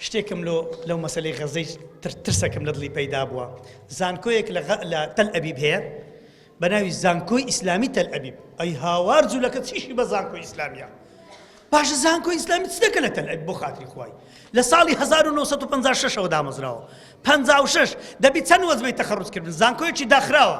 شتێکم لۆ لەو مەسەلەی غەزەی تر ترسەکم لە دڵی پەیدا بووە زانکۆیەک لە غە لە تەل ئەبیب هەیە بە ناوی زانکۆی ئیسلامی تەل ئەبیب ئەی هاوار جوولەکە چیشی بە زانکۆی ئیسلامیە باشە زانکۆی ئیسلامی چ دەکە لە تەل ئەبیب بۆ خاتری خوای لە ساڵی 1956 ەوە دامەزراوە 56 دەبی چەند وەزبەی تەخەڕوج کردن زانکۆیەکی داخراوە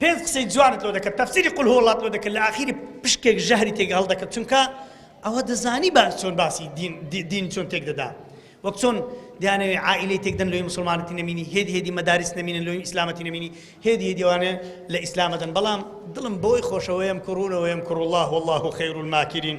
پێنج قسەی جوانت لۆ دەکرد تەفسیری قل هو اللەت لۆ دەکرد لە ئاخیری پشکێک ژەهری تێک هەڵدەکرد چونکە ئەوە دەزانی باش چۆن باسی دین چۆن تێک دەدا وەک چۆن دیانەوێ عائلەی تێکدەن لۆی مسلمانەتی نەمینی هێد هێدی مەدارس نەمینە لۆی ئیسلامەتی نەمینی هێد هێدیوانە لە ئیسلامەدەن بەڵام دڵم بۆی خۆشەوەیەم کوڕونەوەیەم کوڕ الله والله خیر الماکرین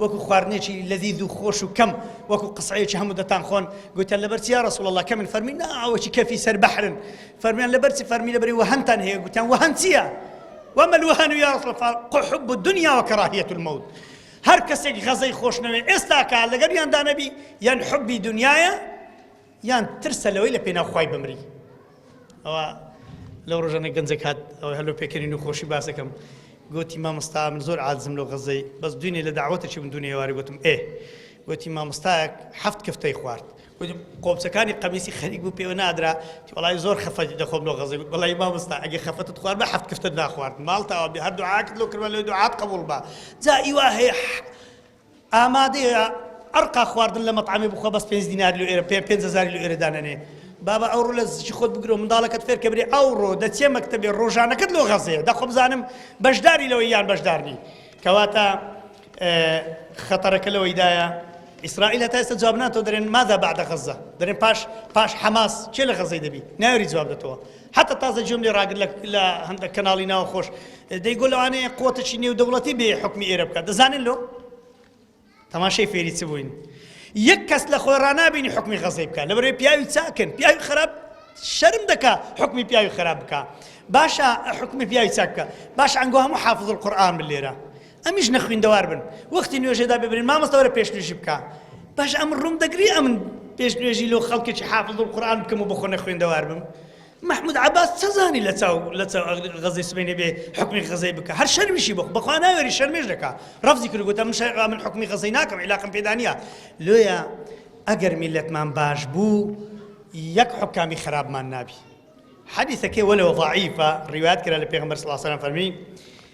وەکو خواردنێکی لەذیذ و خۆش و کەم وەکو قسعەیەکی هەموو دەتان خۆن گوتیان لەبەر چیا رسول الله کەمن فەرمی نا ئەوەکی کەفی سەر بەحرن فەرمیان لەبەر چی فەرمی لەبەری وەهەنتان هەیە گوتیان وەهەن چییە وما الوهن يا رسول الله قحب الدنيا وكراهية الموت هەر کەسێک غەزەی خۆشنەوێ ئێستاکە لەگەر یاندانەبی یان حبی دنیاە یان ترسە لەوەی لە پێناو خوای بمری ئەوە لەو ڕۆژانە گەنجێک هات ئەوە هەلو پێکەنی نوخۆشی باسەکەم گوتی مامۆستا من زۆر عادزم لەو غەزەی بەس دوینێ لە داوەتەکی من دونێ واری گوتم ئێ گوتی مامۆستایەک هەفت کفتەی خوارد گوتی قۆمچەکانی قەمیسی خەریک بوو پێوە نادرا وڵی زۆر خەفەتی دەخۆم لۆ غەزەی گوت بەڵی مامۆستا ئەگە خەفەتت خوارد بە هەفت کفتت ناخوارد ماڵتەوە بێ هەردوو عاکت لۆ کردوە لۆ دوعات قبول بە جا ئیوا هەیە ئامادەیە ئەرقا خواردن لە مەتعەمێ بخوا بەس پێنج دیناری لۆ ئێرە پێ پێنج هەزاری لۆ ئێرە دانەنێ بابا ئەوڕۆ لە زیچی خۆت بگرۆ منداڵەکەت فێر کە برێ ئەوڕۆ دەچێ مەکتەبێ ڕۆژانەکەت لۆ غەزەیە دەخۆ بزانم بەشداری لەوەی یان بەشدار نی کەواتە خەتەرەکە لەوەیدایە ئیسرائیل هەتا ئێستا جواب ناتۆ دەرێن ماذا بعد غزە دەرێن پاش پاش حەماس چێ لە غەزەی دەبی ناوری جواب دەتەوە هەتا تازە گوێم لێ ڕاگرت لە هەندە کەناڵی ناوە خۆش دەی گۆ لەوانەیە قوتەی نێو دەوڵەتی بێ حکمی ئێرە بکات دەزانن لۆ تەماشەی فێری چ بووین یەک کەس لە خۆی ڕنابینی حکمی غەزەی بکە لەبەرێ پیاوی چاکن پیاوی خراپ شەرم دەکا حکمی پیاوی خراپ بکە باشە حکمی پیاوی چاک بکە باش ئەنگۆ هەموو حافظ القورآن بلێرە ئەمیش نەخویندەوار بن وەختی نوێژێدا ببرین مامۆستا وەرە پێش نوێژی بکە باش ئەم ڕوم دەگری ئەمن پێش نوێژی لۆ خەڵکێکی حافظ و قورآن بکەم و بەخۆ نەخوێندەوار بم محمود عباس چەزانی لە چاو لە چاو غەزی سبینێ بێ حکمی غەزەی بکە هەر شەرمیشی بخ بەخوا ناوێری شەرمێش دەکا ڕفزی کرد گوتە من من حکمی غەزەی ناکەم عیلاقم پێدانە لۆیە ئەگەر میلەتمان باش بوو یەک حکامی خراپمان نابی حەدیثەکەی وەلەوە ضعیفە ڕیوات کرا لە پێغمبەر صلی الله عليه وسلم فەرمی